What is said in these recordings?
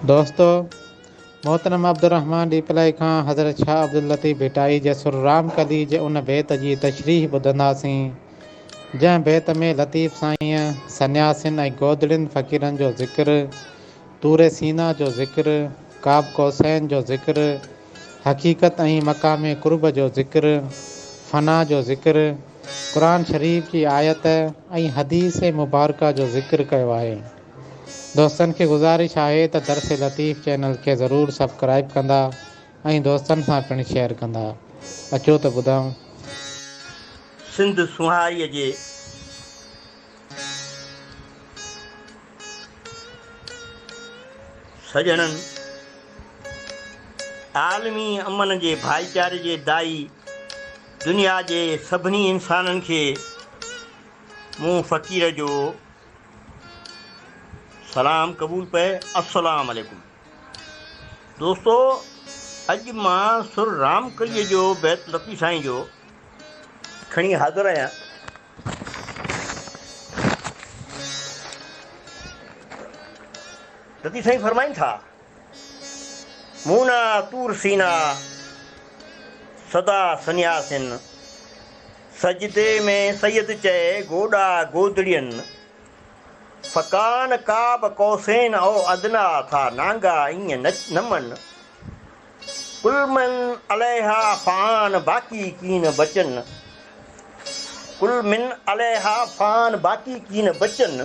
دوستو! محترم عبدالرحمان ڏيپلائي کان حضرت شاهه عبداللطيف ڀٽائي جي سر رام ڪلي جي ان بيت جي تشريح ٻڌنداسين، جنهن بيت ۾ لطيف سائينء سنياسين ۽ گودڙين فقيرن جو ذڪر، طور سينا جو ذڪر، قاب قوسين جو ذڪر، حقيقت ۽ مقام قرب جو ذڪر، فنا جو ذڪر، قرآن شريف جي آيت ۽ حديث مبارڪه جو ذڪر ڪيو آهي. دوستن کي گذارش آهي ته درس لطيف چينل کي ضرور سبڪرائب ڪندا ۽ دوستن سان پڻ شيئر ڪندا اچو ته ٻڌائون. سنڌ سونهاريء جي سڄڻن، عالمي امن جي ڀائيچاري جي داعي دنيا جي سڀني انسانن کي مون فقير جو سلام قبول پئي السلام عليڪم دوستو اڄ مان سر رام ڪليء جو بيت لطيف سائين جو کڻي حاضر آهيان لطيف سائين فرمائن ٿا مونا طور سينا سدا سنياسين سجدي ۾ سيد چئي گوڏا گودڙين فڪان قاب قوسين او ادنيٰ ٿا نانگا ايئن نه نمن ڪل من عليها فان باقي ڪين بچن ڪل من عليها فان باقي ڪين بچن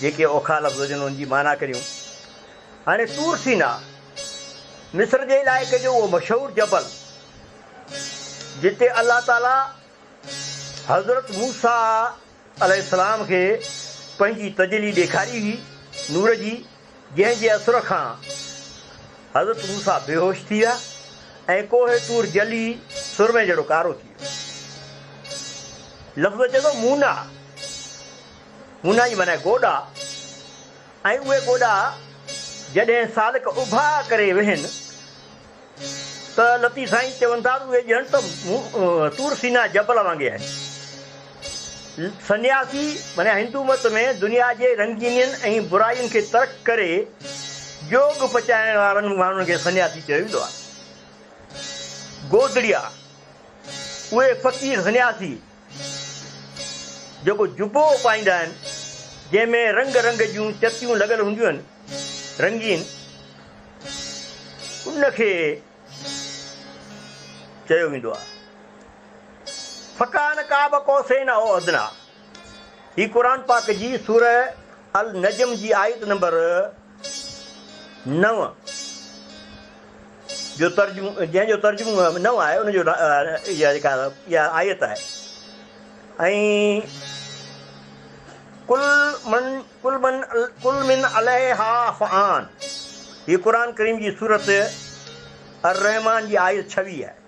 جيڪي اوکا لفظ هجن ان جي معنيٰ ڪريون. هاڻي طور سيناء، مصر جي علائقي جو اهو مشهور جبل، جتي الله تعاليٰ حضرت موسيٰ عليه السلام کي پنهنجي تجلي ڏيکاري هئي، نور جي، جنهن جي اثر کان حضرت موسيٰ بيهوش ٿي ويا ۽ ڪوهه طور جلي سرمي جهڙو ڪارو ٿي ويو. لفظ اچي ٿو مونا. هونئن ئي معنيٰ گوڏا ۽ اهي گوڏا جڏهن سالڪ اڀا ڪري ويهن ته لطيف سائين چون ٿا ته اهي ڄڻ ته طور سينا جبل وانگي آهن. سنياسي معنيٰ هندو مت ۾ دنيا جي رنگينين ۽ برائين کي ترڪ ڪري جوڳ پچائڻ وارن ماڻهن کي سنياسي چيو ويندو آهي. گودڙيا، اهي فقير سنياسي، جيڪو جبو پائيندا آهن، جنهن ۾ رنگ رنگ جون چتيون لڳل هونديون آهن، رنگين، ان کي چيو ويندو آهي، فڪان قاب قوسين او ادنيٰ، هي قرآن پاڪ جي سورة النجم جي آيت نمبر نو، جو ترجمو، جنهن جو ترجمو نو آهي، ان جو اها جيڪا اها آيت آهي. ۽ ڪل من ڪل من ڪل من عليها فان هي قرآن ڪريم جي سورت الرحمان جي آيت 26 آهي.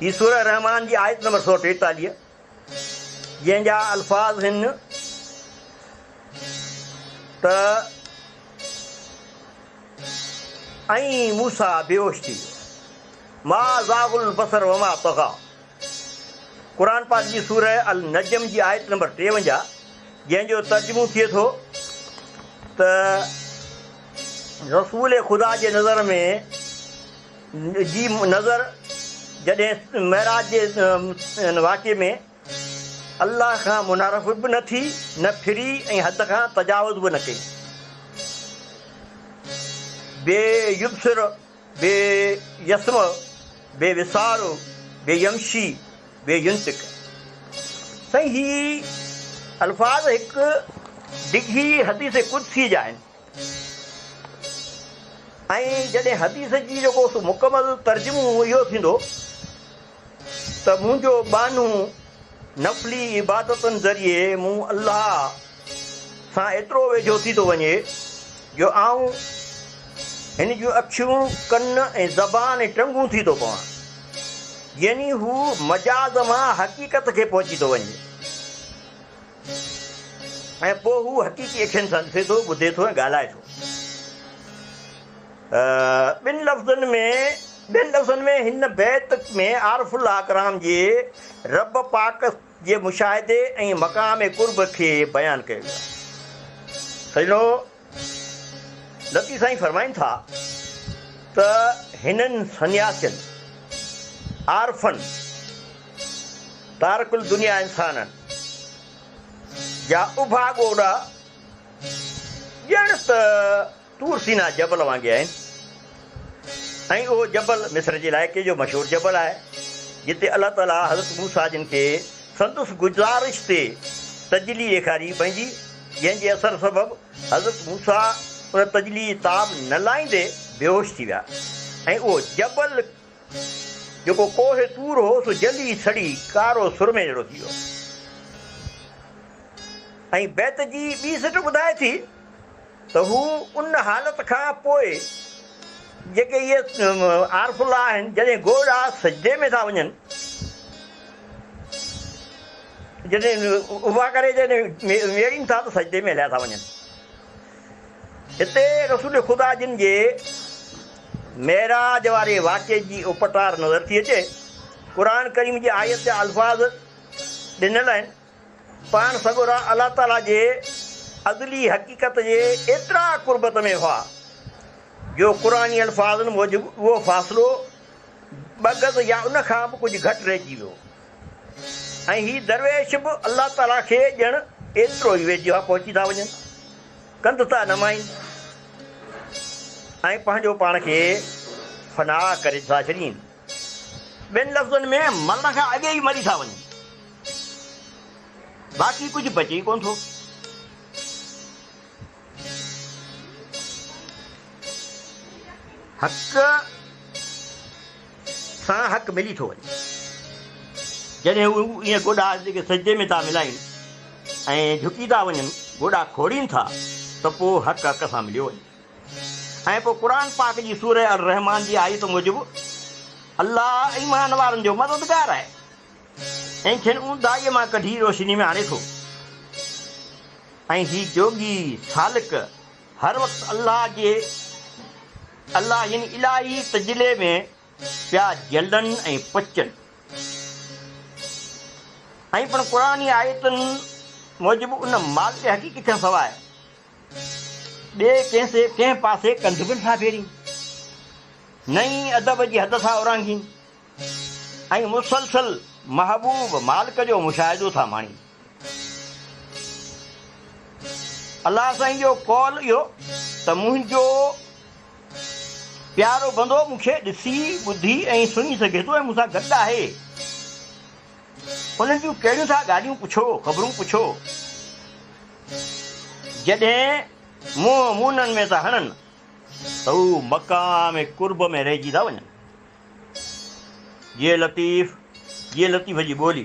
هي سورة الرحمان جي آيت نمبر سؤ ٽيتاليهه جنهن جا الفاظ هن ته ۽ موسا بيهوش ٿي ويو ما زاغ البصر وما طغا قرآن پاڪ جي سورة النجم جي آيت نمبر ٽيونجاهه جنهن جو ترجمو ٿئي ٿو ته رسول خدا جي نظر ۾ جي نظر جڏهن معراج جي ان واقعي ۾ الله کان منحرف به نه ٿي، نه ڦري ۽ حد کان تجاوز به نه ڪئي. بي يبصر، بي يسمع، بي وسار، بي يمشي، بي ينطق. سائين هي الفاظ هڪ ڊگهي حديث قدسي جا آهن. ۽ جڏهن حديث جي جيڪو سو مڪمل ترجمو اهو ٿيندو ته منهنجو ٻانهو نفلي عبادتن ذريعي مون الله سان ايترو ويجهو ٿي ٿو وڃي جو آئون هن جون اکيون، ڪن ۽ زبان ۽ ٽنگون ٿي ٿو پوان. يعني هو مجاز مان حقيقت کي پهچي ٿو وڃي. ۽ پوء هو حقيقي اکين سان ڏسي ٿو، ٻڌي ٿو ۽ ڳالهائي ٿو. ٻن لفظن ۾ ٻين لفظن ۾ هن بيت ۾ عارف الله اڪرام جي رب پاڪ جي مشاهدي ۽ مقام قرب کي بيان ڪيو ويو آهي. سڄڻو! لطيف سائين فرمائن ٿا ته هنن سنياسين، عارفن، تارڪ الدنيا انسانن جا اڀا ڳوڏا ڄڻ ته طور سينا جبل وانگي آهن. ۽ اهو جبل مصر جي علائقي جو مشهور جبل آهي، جتي الله تعاليٰ حضرت موسيٰ جن کي سندس گذارش تي تجلي ڏيکاري پنهنجي، جنهن جي اثر سبب حضرت موسيٰ ان تجلي جي تاب نه لاهيندي بيهوش ٿي ويا ۽ اهو جبل جيڪو ڪوهه طور هو سو جلي سڙي ڪارو سرمي جهڙو ٿي ويو ۽ بيت جي ٻي سٽ ٻڌائي ٿي ته هو ان حالت کان پوء جيڪي اهي عارف الله آهن جڏهن گوء ڏانهن سجدي ۾ ٿا وڃن جڏهن اڀا ڪري جڏهن ويڙين ٿا ته سجدي ۾ هليا ٿا وڃن هتي رسول خدا جن جي معراج واري واقعي جي اپٽار نظر ٿي اچي قرآن ڪريم جي آيت جا الفاظ ڏنل آهن پاڻ سڳورا الله تعاليٰ جي ازلي حقيقت جي ايترا قربت ۾ هئا جو قرآني الفاظن موجب اهو فاصلو ٻه گز يا ان کان به ڪجهه گهٽ رهجي ويو ۽ هي درويش به الله تعاليٰ کي ڄڻ ايترو ئي ويجهو ها پهچي ٿا وڃن. ڪنڌ ٿا نمائين ۽ پنهنجو پاڻ کي فنا ڪري ٿا ڇڏين. ٻين لفظن ۾ مرڻ کان اڳي ئي مري ٿا وڃون. باقي ڪجهه بچي ئي ڪونه ٿو. حق سان حق ملي ٿو وڃي. جڏهن هو ائين گوڏا جيڪي سجدي ۾ ٿا ملائين ۽ جهڪي ٿا وڃن، گوڏا کوڙين ٿا ته پوء حق حق سان مليو وڃي. ۽ پوء قرآن پاڪ جي سورة الرحمان جي آيت موجب الله ايمان وارن جو مددگار آهي ۽ کين اونداهيء مان ڪڍي روشني ۾ آڻي ٿو ۽ هي جوڳي، سالڪ، هر وقت الله جي، الله يعني الاهي، تجلي ۾ پيا جلن ۽ پچن. ائين پڻ قرآني آيتن موجب ان مالڪ حقيقي کانسواء ٻئي ڪنهن پاسي ڪنڌ به نٿا ڦيرين، نه ئي ادب جي حد ٿا اورانگهين ۽ مسلسل محبوب مالڪ جو مشاهدو ٿا ماڻين. الله سائين جو قول اهو ته منهنجو پيارو بندو مون کي ڏسي، ٻڌي ۽ سڃي سگهي ٿو ۽ مون سان گڏ آهي. انهن جون ڪهڙيون ٿا ڳالهيون پڇو، خبرون پڇو. جڏهن منهن مونن ۾ ٿا هڻن ته هو مقام قرب ۾ رهجي ٿا وڃن. جي لطيف جي لطيف جي ٻولي.